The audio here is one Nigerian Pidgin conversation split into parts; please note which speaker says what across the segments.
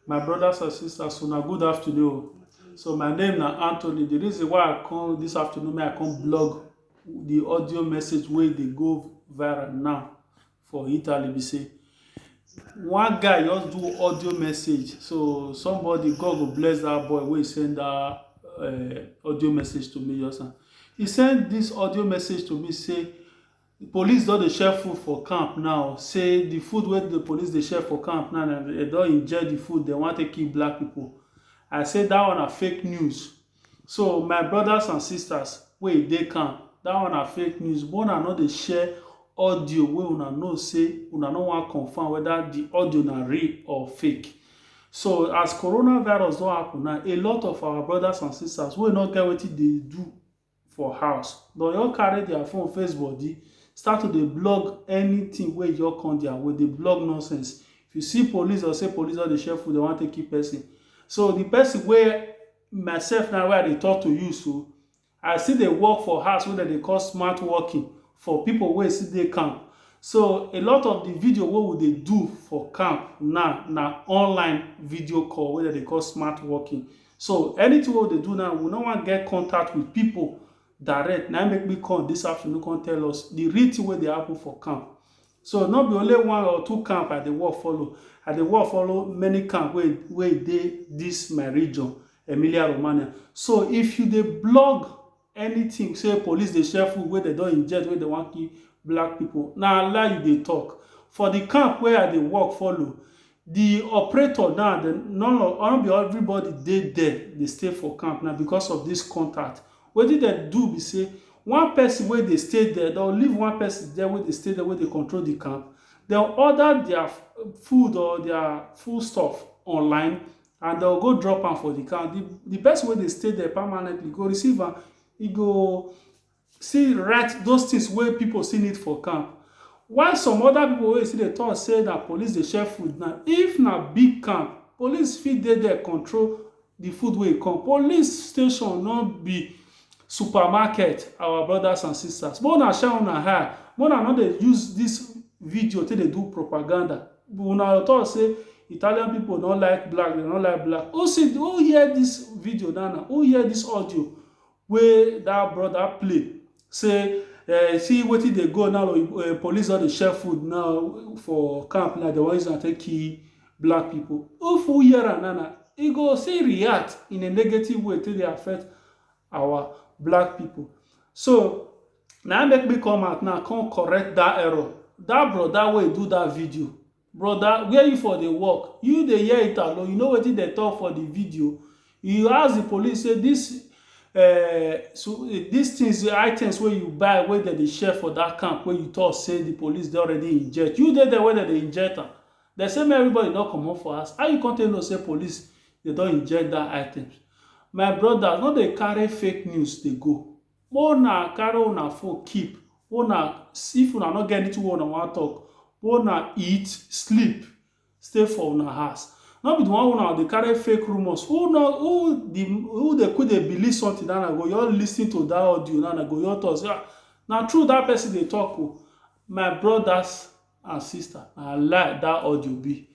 Speaker 1: My brothers and sisters, una good afternoon. So my name na Anthony. The reason why I come this afternoon, may I come blog the audio message wey dey go viral now for Italy be say one guy just do audio message. So somebody God go bless that boy wey send that uh, audio message to me just now. He send this audio message to me say Di police don dey share food for camp now say di food wey di police dey share for camp now na dem don inject di food dem wan take kill black pipo. I say dat one na fake news so my brodas and sistas wey dey camp dat one na fake news make una no dey share audio wey una know say una no wan confam weda di audio na real or fake so as corona virus don happun now a lot of our brodas and sistas wey no get wetin dey do for house don just carry their phone face body start to dey blog anything wey just come their way, dey blog nonsense. If you see police or say police don dey share food, dey wan take kill person. So the person wey myself now wey I dey talk to you so, I still dey work for house wey dem dey call smart working for people wey still dey camp. So a lot of the video wey we dey do for camp now na online video call wey dem dey call smart working. So anything wey we dey do now, we no wan get contact with people direct. Na im make me come this afternoon come tell us the real thing wey dey happen for camp. So no be only one or two camp I dey work follow. I dey work follow many camp wey wey dey this my region, Emilia-Romagna. So if you dey blog Anything say police dey share food wey dem don inject wey dem wan kill black people, na lie you dey talk. For the camp wey I dey work follow, the operator now dem none of nor be everybody dey there dey stay for camp na because of this contact. Wetin dem do be say, one person wey dey stay there dem leave one person there wey dey stay there wey dey control the camp, dem order their food or their food stuff online and dem go drop am for the count. The, the person wey dey stay there permanently go receive am. He go see write those things wey people still need for camp. While some other people wey still dey talk say na police dey share food now, if na big camp, police fit dey there control the food wey come. Police station no be supermarket, our brothers and sisters. Make una shine una eye. Make una no dey use this video take dey do propaganda. Una talk say Italian people no like black, dem no like black. Who see, who hear this video now now? Who hear this audio wey that brother play? Say eh, see wetin dey go now, oyibo- eh, police don dey share food now for camp now, dem wan use am take kill black people. If who hear am now now, e go still react in a negative way take dey affect our black people. So, Na im make me come out now come correct that error. That brother wey do that video, brother where you for dey work? You dey hear italo, you know wetin dem talk for the video? You ask the police say this um this things, items wey you buy wey dem dey share for that camp wey you talk say the police don already inject, you dey there wey dem dey inject am? Dem say make everybody no comot for house. How you come take know say police dem don inject that items? My brother no dey carry fake news dey go. Make una carry una phone keep, una if una no get anything wey una wan talk, make una eat, sleep, stay for una house. No be the one wey una go dey carry fake rumours, who no who the who dey quick dey believe something that na go just lis ten to that audio now na go just talk say ah na true that person dey talk o. My brothers and sister na lie that audio be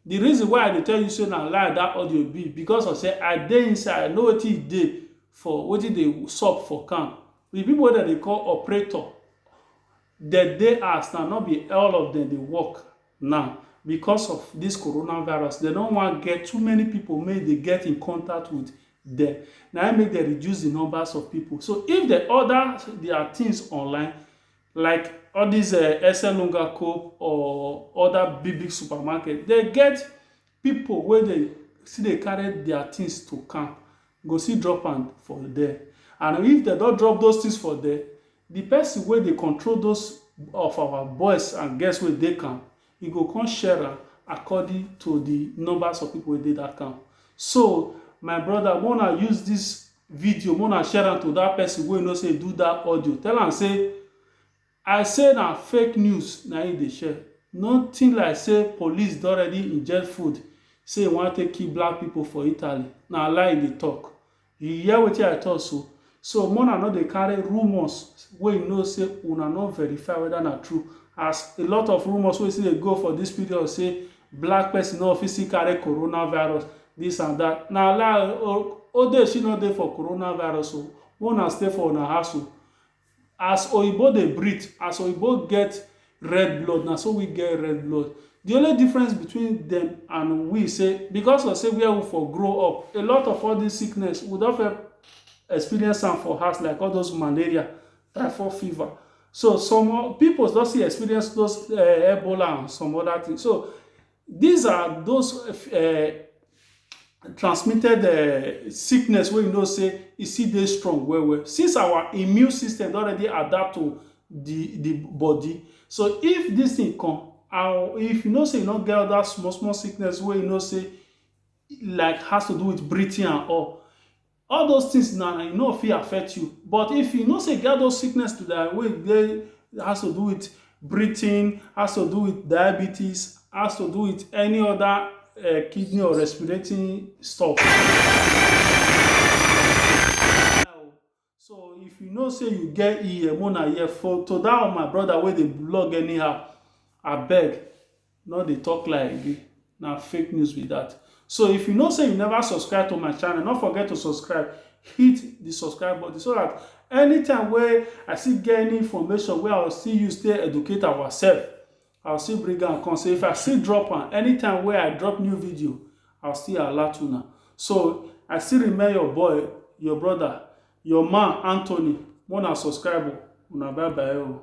Speaker 1: the reason why i dey tell you say na lie that audio be because of say i dey inside i know wetin e dey for wetin dey sup for camp the people wey dem dey call operator dem dey house now no be all of them dey work now because of this coronavirus dem no wan get too many people make e dey get in contact with them na im make dem reduce the numbers of people so if dem order their things online like all dis um Eselunga Coop or other big big supermarket, dem get pipu wey dey still dey carry their things to come, go still drop am for there. And if dem don drop those things for there, the person wey dey control those of our boys and girls wey dey camp you go come share am according to the numbers of people wey dey that camp so my brother make una use this video make una share am to that person wey you know say do that audio tell am say i say na fake news na him dey share nothing like say police don already inject food say e wan take kill black people for italy na lie e dey talk You hear wetin I talk so? So mo una no dey carry rumours wey you know say una no verify whether na true as a lot of rumours wey still dey go for this period say black person no fit still carry coronavirus this and that na lie o odeshi no dey for coronavirus o make una stay for una house o as oyibo dey breathe as oyibo get red blood na so we get red blood the only difference between them and we say because of say where we for grow up a lot of all this sickness we don feel experience am for house like all those malaria typhoid fever so some people don see experience those uh, ebola and some other things so These are those uh, transmitted uh, sickness wey you know say e still dey strong well well since our immune system don already adapt to the the body so if this thing come and if you know say you no get other small small sickness wey you know say like has to do with breathing and all All those things na e no fit affect you but if you know say you get those sickness to die wey dey has to do with breathing, has to do with diabetes, has to do with any other um kidney or respirating stuff so if you know say you get EM make una hear for to that my brother wey dey vlog anyhow abeg. No dey talk lie again, na fake news be that. So if you know say you never subscribe to my channel, no forget to subscribe, hit the subscribe button so that anytime wey I still get any information wey I will still use take educate ourselves, I will still bring am come. So if I still drop am, anytime wey I drop new video, I will still alert una. So I still remain your boy, your brother, your man Anthony. Make una subscribe o, una bye bye o.